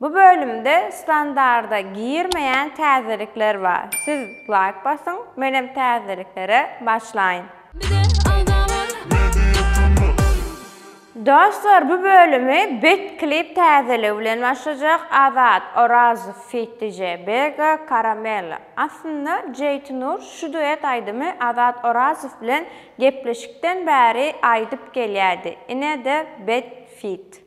Bu bölümde standarda girmeýän täzelikler bar siz laýk basyň menem täzeliklere başlaýyn. Bize agza bol. Dostlar bu bölümi bet klip täzeligi bilen başlajak Azat Orazow feat DJ Bega Karamella aslynda Jeýtynur şu duet aýdymy Azat Orazow bilen gepleşikden bäri aýdyp gelýärdi inede bet feat.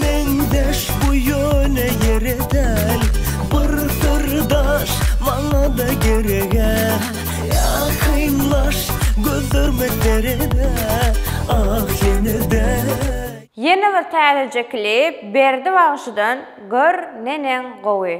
Meňzeş bu ýöne ýere däl Bir syrdaş maňa-da gereg-ä Ýakynlaş gözlerme sere-de Ah ýene-de Ýene bir täzeje klip Berdi bagşydan Gör neneň gowy.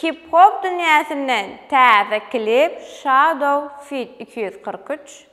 Hip-hop dünýäsinden täze klip Shadow feat. Iki ýüz kyrk üç.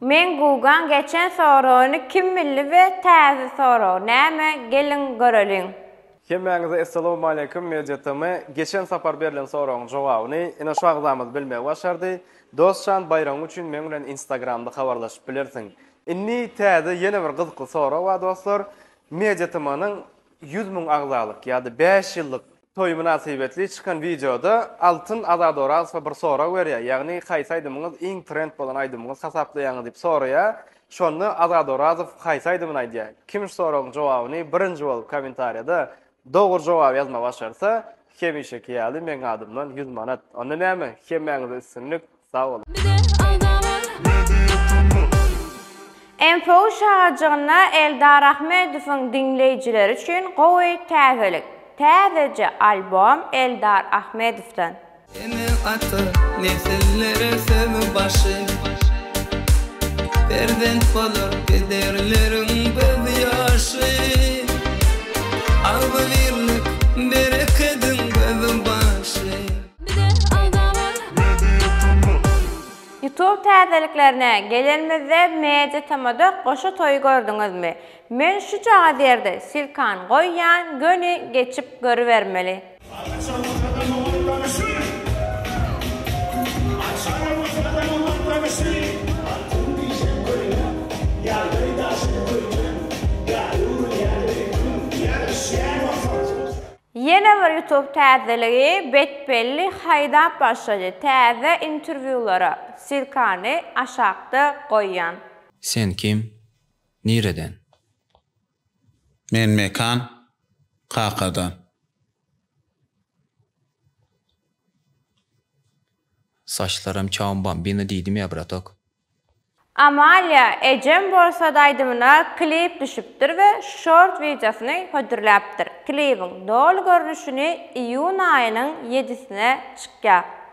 Men gugan geçen soragyny kim bildi be taze sorag name gelin göreliň. Hemmäňize Essalamualeýkum Media TM. Geçen sapar berlen soragyň jogabyny ine şu agzamyz bilmegi başardy. Dostjan baýragyň üçin meň bilen instagramda habarlaşyp bilersiň. Indi täze ýene bir gyzykly sorag bar dostlar. MediaTMAnyň ýüz müň agzalyk ýa-da bäş ýyllyk toýy mynasybetli çykan wideoda Altyn Azat Orazowa bir sorag berýär, ýagny haýsy aýdymyňyz iň trend bolan aýdymyňyz hasaplaýaňyz diýip soraýar, şonda Azat Orazow haýsy aýdymyny aýdýar? Kim şu soragyň jogabyny birinji bolup kommentariýada Dogry jogap ýazma başarsa hemişeki ýaly meň adymdan ýüz manat. Onda näme? Hemmäňize üstünlik. Sag boluň. Info şagajygyna Eldar Ahmedowyň diňleýjileri üçin gowy täzelik. Täzeje albom Eldar Ahmedowdan. Ene ata nesillere söýgi başy Perzent bolar pederleriň göz ýaşy Agzybirlik berekediň gözü başy. Youtube täzeliklerine gelenimizde Media TMda goşa toýy gördüňizmi? Men şujagaz ýerde silkan goýýan göni geçip görübermeli. Ýene bir ýutub täzeligi Betbelli haýdap başlady täze interwýulara silkany aşakda goýýan. Sen kim? Nireden? Men Mekan kakadan. Saçlaram çawam bambino diýdim ýa bratok. Amalia ejem bolsady aýdymyna klip düşüpdir we şort wideosyny hödürläpdir. Klibiň doly görnüşini iýun aýynyň ýedisine çykýar.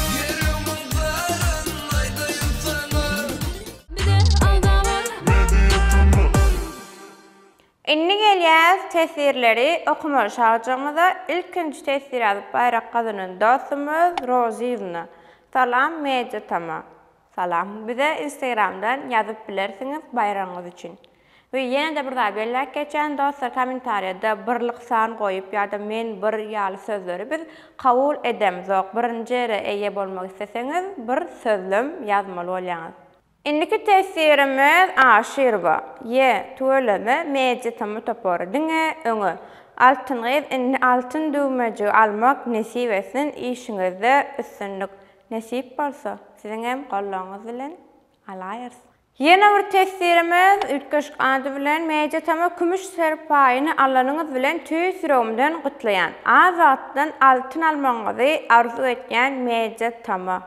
Ýüregimiň zaryn aýdaýyn saňa. Bize aldaman. Media Turnus. Indi gelýäs teswirleri okamaly şagjygymyza ilkinji teswir alyp baýrak gazanan dostumyz Rozyýewna Salam Media Tama. Salam. Bize Instagramdan ýazyp bilersiňiz baýragyňyz üçin. We ýene-de bir zat belläp geçýän dostlar kommentariýada birlik san goýup ýa-da men bir ýaly sözleri biz kabul edemzok. Birinji ýere eýe bolmak isleseňiz bir sözlem ýazmaly bolýaňyz. Indiki testirimiz Aşyrowa. Ýe, tüweleme Media Tama topary. Diňe öňe. Altyn gyz indi altyn düwmejigi almak nesip etsin işiňizde üstünlik. Nesip bolsa, siziňem goldawyňyz bilen alaýyrys. Ýene bir teswirimiz üýtgeşik ady bilen Media Tama Kümüş serpaýyny alanyňyz bilen tüýs ýüregimden gutlaýan. Az wagtdan altyn almagyňyzy arzuw etýän Media Tama.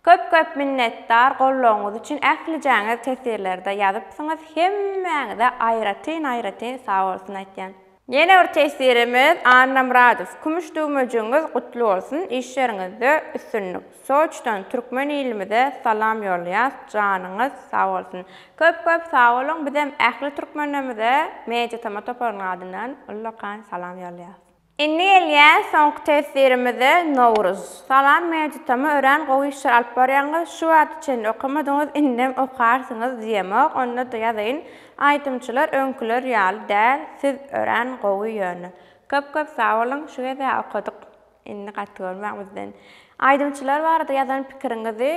Köp köp minnetdar goldawyňyz üçin ählijäňiz teswirlerde ýazypsyňyz hemmäňize aýratyn aýratyn sag bolsun aýtýan. Ýene bir teswirimiz Annamyradow kümüş düwmejigiňiz gutly bolsun işleriňizde üstünlik Soçdan türkmen ilimize salam ýollaýas janyňyz sag bolsun köp köp sag boluň bizem ähli türkmenlerimize media tama toparynyň adyndan ullakan salam ýollaýas. Indi gelýär soňky teswirimize Nowruz salam media tama örän gowy işler alyp barýaňyz şu wagta çenli okamadyňyz indem okarsyňyz diýemok onda-da ýazaýyn Aýdymçylar öňküler ýaly däl siz örän gowy ýöne. Köp köp sag boluň şu gezä okadyk indi gaty görmäň bizden. Aýdymçylar barada ýazan pikiriňizi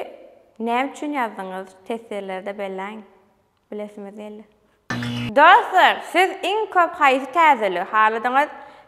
näme üçin ýazdyňyz teswirlerde belläň bilesimiz geldi. Dostlar siz iň köp haýsy täzeligi haladyňyz?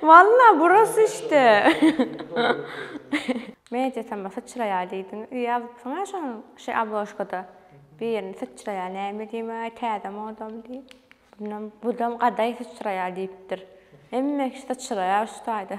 Walla burasy işte. Men ejesem bir syçraýar diýdim. Öýe alypsyň-a şonuň şeý obložkada bir ýerini syçraýar näme diýmä täze modamy diýip. Ondan budam gadaý syçraýar diýipdir. Hemme kişi syçraýar şu taýda.